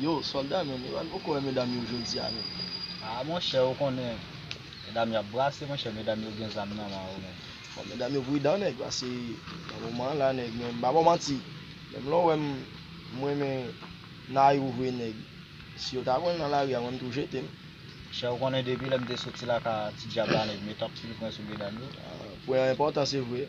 Yo solda menm yo al poko wè medam yo jodia menm. Ah monchè ou konnen medam yo ap brase monchè medam yo gen zam nan man yo menm. Bon medam yo pridan nèg pase nan moman an la nèg menm pa bon manti menm lè w wèm m renmen Nayou vre nèg si yo ta wèl nan lari a mwen m tou jete m. Monchè ou konnen depi lè m te soti lakay a ti djab la nèg met anpil pwen sou medam yo. Pwen an enpòtan se vre.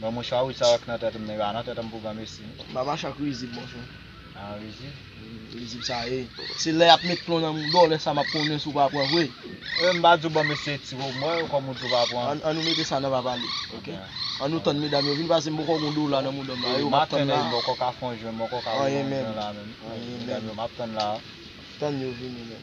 Bon mouchwa wi sa wè k nan tèt m nan e pa nan tèt anpou granmesi. Ba mache ak rizib mouchwa. Ah rizib? Rizib sa e. Se lè yap met plon nan moudon lè sa map konnen si w pa pran vre. E m pa di w ban m eseye ti bo m wè kòm ou di w pa pran. An nou mete sa nan pa pale ok. An nou tann medam yo vin pase m bòkò gon dola nan moudon m la e yo map tann la. Maten bòkò ka fon jwenn bòkò ka wè yon jwenn la menm. Anyen menm. Medam yo map tann la. Tann yo vini menm.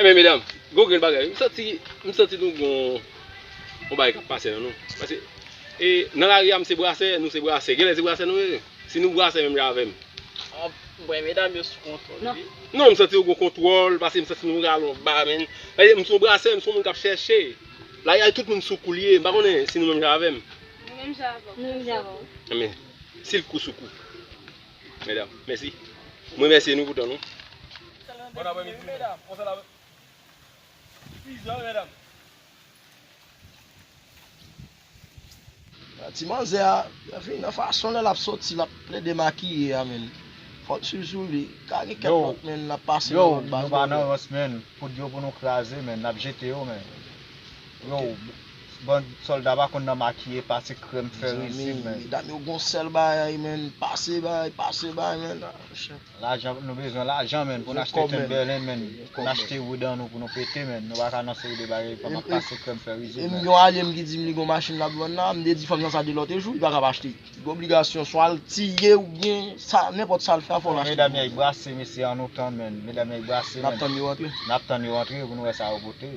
Ebyen medam, gon grenn bagay wi, m santi, m santi nou gon yon bagay kap pase nan nou, pase e nan lari a m se brasè, nou se brasè, genlè se brasè nou ye, si nou brasè menm jan avèm. Anmwey medam yo sou kontwòl wi. Non m santi yo gon kontwòl, pase m santi nou pral yon ba menn, pase m son brasè, m son moun kap chèche, lari a tout moun sou kou l ye, m pa konnen si nou menm jan avèm. Nou menm jan avèw. Nou menm jan avèw. Ebyen, si l kou sou kou. Medam, mèsi. M remèsye nou pou tan nou. Bon apre midi medam. Bon fèt apre midi. Pizza medam. Ti manzè a fin nan fason lè lap soti lap plede makiye a menn fòl swiv sou li ka gen kèk lòt menn lap pase nan lòt baz yo. Yow nou pa nan rans menn, poud yo pou nou kraze menn, nap jete yo menn. Yow. Bon solda pa konn nan makiye pase krèm fè rizib menn. Mezanmi medam yo gon sèl bagay menn pase bay pase bay menn. Lajan nou bezwen lajan menn pou n achte timberland menn pou n achte wood an nou pou nou pete menn nou paka nan seri de bagay pa map pase krèm fè rizib menn. Yon alye m ki di m li gon machin lap vann la m te di fanm nan sa de lòt jou li pakab achte li gen obligasyon swa l tiye oubyen sa nenpòt sa l fè a fò l achte. Medam yay brase mesye an nou tann menn medam yay brase menn nap tann yo antre pou nou wè sa yo pote.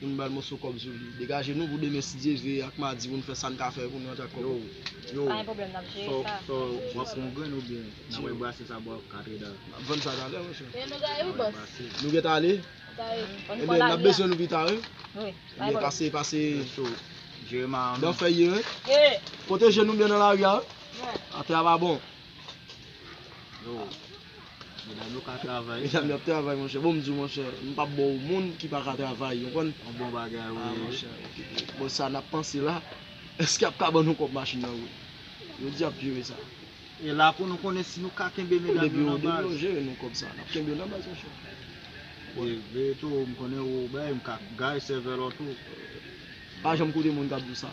pou nou bal moso kob sou li degaje nou pou demen si Dye ve ak madi pou nou fè sa nou ka fè pou nou rantre ak kob yo Pa gen pwoblèm nap jere sa So wap pran grenn ou byen nap al brase sa bò katredal. Map vann sa talè wi chèf. Mwen gentan ale wi bòs. Nou gentan ale? Ebyen nap bezwen nou pita wi. Ebyen pase pase nan fèy yo wi. Pwoteje nou byen nan lari a wi. Atè a pa bon. Medam yo ka travay. Medam yo ap travay monchè. Bon m di w monchè, m pap ba w moun ki pa ka travay yo konn. Yon bon bagay wi. Ah monchè, bon sa nap panse la, eske ap ka ban nou kòb machin nan wout? Yo di yap jere sa. E la pou nou konnen si nou ka kenbe medam yo nan baz. Depi yo, depi yo jere nou kòb sa, nap kenbe yo nan baz monchè. E veye tou, m konnen ou bay, m ka gaye sèvèl ou tou. Pa janm koute moun kap di w sa.